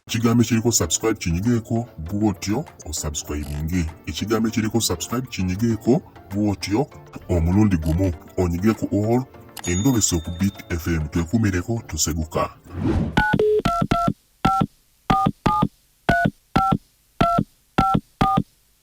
ekigambo ekiriko subscribe kinyigeeko bwotyo osubscribinge ekigambo ekiriko subscribe kinyigeeko bwotyo omulundi gumu onyige ku all endobeso ku bit fm twekumireko tuseguka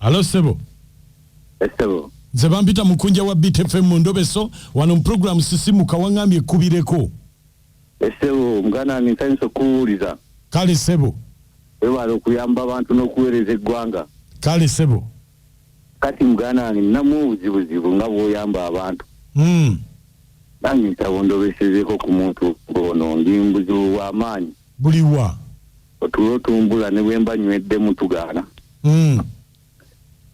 Alo sebo. Esebo. Nze bampita mukunja wa Beat FM mu ndobeso wano mu program sisimuka wangambye kubireko. Esebo mugana ni nsanyusa kuwuliza. Kale sebo. Webale okuyamba abantu n'okuweereza eggwanga. Kale sebo. Kati mugana ni namu obuzibuzibu nga bwoyamba abantu. Mm. Nange nsaba ondobesezeko ku muntu ono ndi mbuzibu bwa maanyi. Buliwa. otulo tumbula ne bwe mba nyweddemu tugaana mm.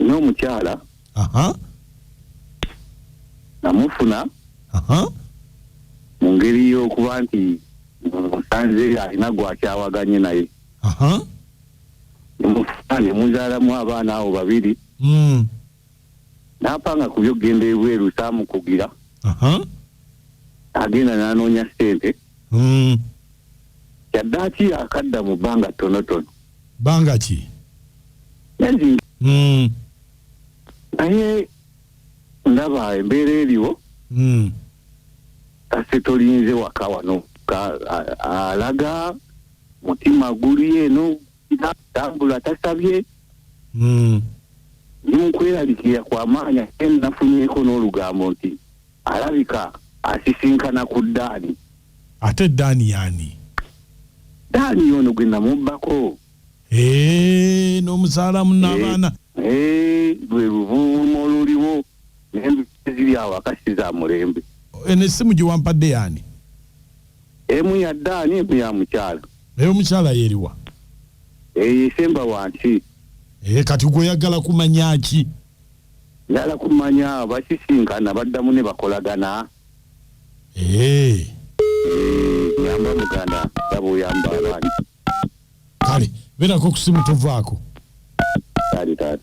n'omukyala uh -huh. namufuna uh -huh. mu ngeri y'okuba nti musanze alina gwakyawaganye naye uh -huh. nemufuna nemuzaalamu abaana abo babiri mm. n'apanga ku byokugenda ebweru saamukugira agenda n'anoonya ssente hmm. kyaddaaki akadda mu bbanga ttonotono bbanga ki naye hmm. ndaba embeera eriwo hmm. kase tolinze waka wano alaga mutima guli eno tambula tasabye hmm. nokweraliikirira kwa maanyi ate nafunyeko n'olugambo nti alabika asisinkana ku daani ate daani yaani daani yono gwe namubbako eh, n'omuzaalamu n'abaana eh, eh, lwe luvuuma oluliwo nembi ziri awo akasiza mulembe eno essimu gye wampadde yaani Emu ya Daani emu ya mukyala. Naye omukyala yeriwa? Eyo esemba wansi. Eh, kati gwe oyagala kumanya ki? Njala kumanya bakisinkana baddamu ne bakolagana. Eh. Yamba muganda daba oyamba abaana. Kale beerako ku simu tovaako. Kale taata.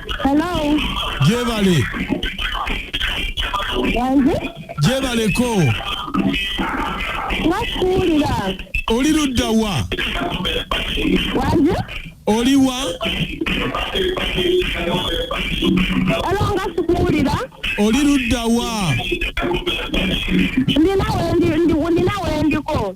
Hello. Jebale. Wanze? Jebale ko. Nakuulira. Oli ludda wa? Wanze? Oli wa? Hello nga sikuwulira. Oli ludda wa? Ndi nawe ndi ndi ndi nawe ndiko.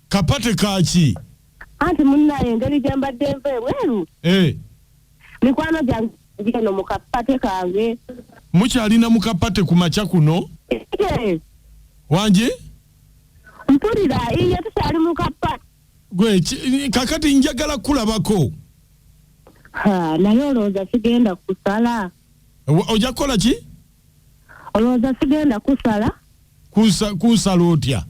Kapate kaki? Anti munnaye engeri gye mbadde nva ebweru eh. mikwano gyange gino mu kapate kange. Mukyalina mu kapate ku makya kuno? Eh. Wangi? Mpulira iye tukyali mu kapate. Gwe kakati njagala kulabako. Ha, naye olowooza sigenda kusala. Ojja kukola ki? Olowooza sigenda kusala. Kusa, kusala otya?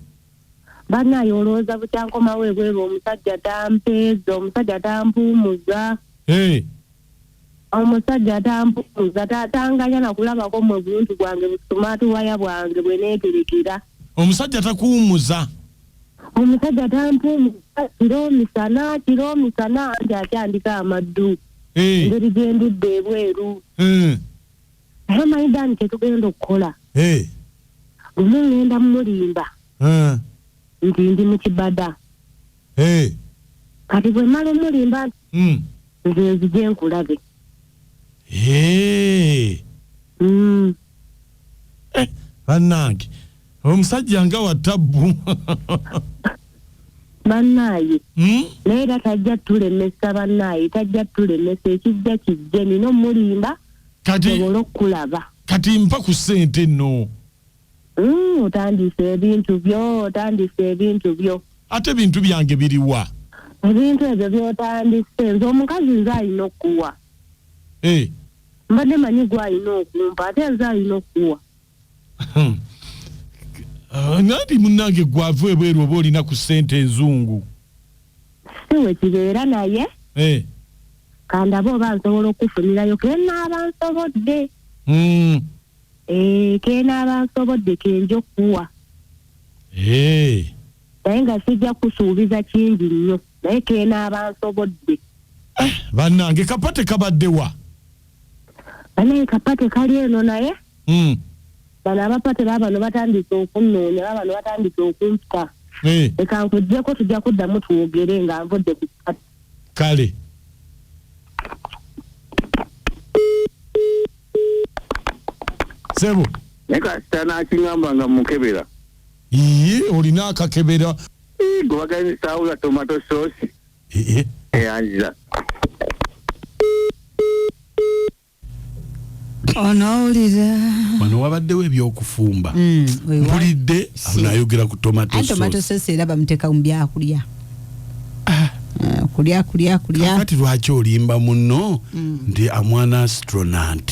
banaye olowooza bukyankomawo ebweru omusajja tampeeza omusajja tampuumuza Hey, omusajja tampuumuza ta- tanganya nakulabako mwe buntu bwange busumaatuwaya bwange bwe neeterekera omusajja takuwumuza omusajja tampuumuza kiro misana kiro misana nti akyandika amaddu Hey, engeri gye ndudde ebweru eh. naye omanyi dani kyetugenda okukola eh. lumu ngenda mumulimba eh. nti ndi mukibada eh. kati bwemala omulimba nti mm. nze nzije nkulabe mm. eh, banange omusajja nga watabbu bannaaye hmm? naye era tajja tulemesa bannaaye tajja tulemesa ekijja kijje nina omulimba nsobole okukulaba kati mpa ku sente no mm, otandise ebintu byo otandise ebintu byo ate ebintu byange biriwa ebintu ebyo byotandise nze omukazi nze alina okukuwa hey. Eh. mbadde manyi gwe alina okumpa ate nze alina okukuwa Ah, nanti munange gwava ebweru oba olina ku sente enzungu siwekibeera naye eh. kandabe oba nsobola okukufunirayo kenaaba nsobodde mm. eh, kenaaba nsobodde kenja okukuwa eh. naye nga sijja kusuubiza kingi nnyo naye kenaaba nsobodde ah, bannange kapate kabaddewa banaye kapate kali eno naye Mm. bano abapate babano batandise okunnoonya babano batandise okumpa Eh, leka nkujjeko tujja kuddamu twogere nga nvudde ku pate kale sebo naye kasita nakingamba nga mukebera iye olina akakebera gwebagenzisaawo ga tomato sauce Ehe. eyanziza onowulira wano wabaddewo ebyokufumba Mm, we wa- mpulidde Si. anayogera ku tomato anti tomato sauce. sosi era bamuteka mu byakulya Ah, kulya kulya kulya kakati lwaki olimba munno nti amwana astronant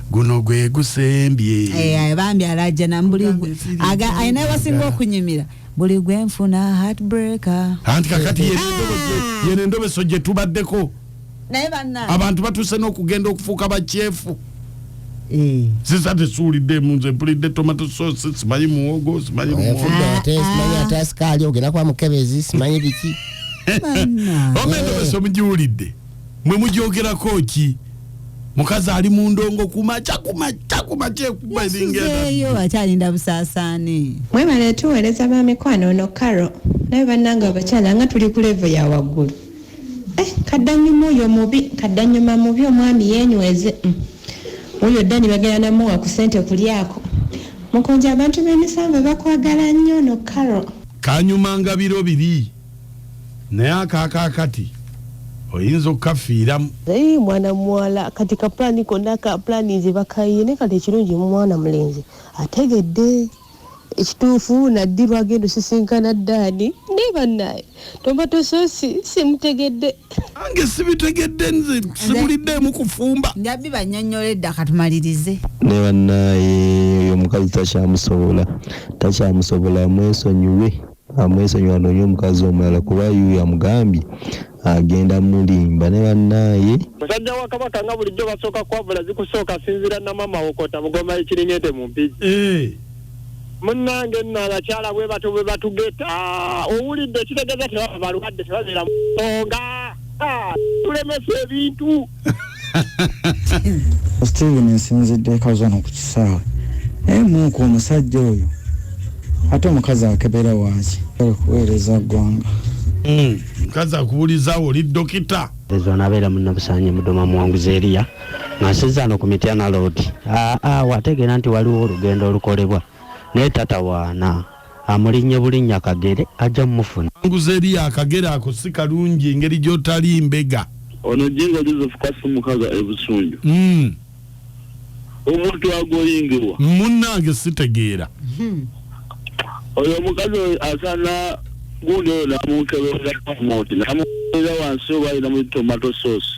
guno gwe gusembye eh, bambi alajana mbuli alina wasinga okunyumira buli gwe nfuna heartbreaker anti kakati yene ah! endobeso gye tubaddeko abantu batuuse n'okugenda okufuuka bakyefu eh. sisa tesuuliddemu nze mpulidde tomato sauce simanyi muwogo simanyi lumonsimanyi ate asikaali ogenda kwa mukebezi simanyi biki omendobeso mugiwulidde mwe mugyogerako ki mukazi ali mu ndongo kumaca kumaca kumacaekubaeyo akyalinda busaasaane mwebale tuweereza ba mikwano ono karo naye bannange abakyala nga tuli ku levo ya waggulu eh, kaddanyuma oyo mubi kaddanyuma mubi omwami yenyweze mm. oyo dani bagenda namuwa ku sente kulyako mukunja abantu b'emisanvu bakwagala nnyo no karo kanyuma nga biro biri naye akakakati oyinza okukafiiramu naye mwana muwala kati ka pulani konna ka pulani nze bakayiye naye kati ekirungi mwana mulenzi ategedde ekituufu naddi lwagenda osisinkana ddaani naye bannaye tomato sosi simutegedde ange sibitegedde nze sibuliddeemu kufumba nabbi banyonyola edda katumalirize ne bannaye oyo omukazi takyamusobola takyamusobola mwesonyiwe Amwesonyiwe anoonye omukazi omulala kuba yuuyo amugambye agenda mulimba ne banaye. Musajja wa kabaka nga bulijjo basooka kwavula zikusooka sinzira namama wo kota mugoma ye kiringente mu mpigi. Munange nno abakyala bwebatyo bwebatugeta owulidde ekitegeza tebaba balwadde tebabeera mu nsonga tulemesa ebintu. steven nsinzidde ekazano ku kisaawe naye muuku omusajja oyo ate omukazi akebera waaki kuweereza ggwanga hmm, mukazi akubulizawo oli dokita ezo nabeera munabusanye mudoma muwanguzi eriya nasizaano ku mityana loodi aa wategeera nti waliwo olugendo olukolebwa naye tatawaana Amulinnye bulinnya Kagere ajja mufuna. Kanguze eri akagere ako si kalungi engeri gyotali mbega. Ono Jjingo Joseph Kasu Mukaga e Busunju. Uhmm. Omuntu agoyingirwa. Munnange sitegeera. Oyo omukazi oyo asaana gundi oyo namukeberera promote namukeberera wansi oba alina mu tomato sauce.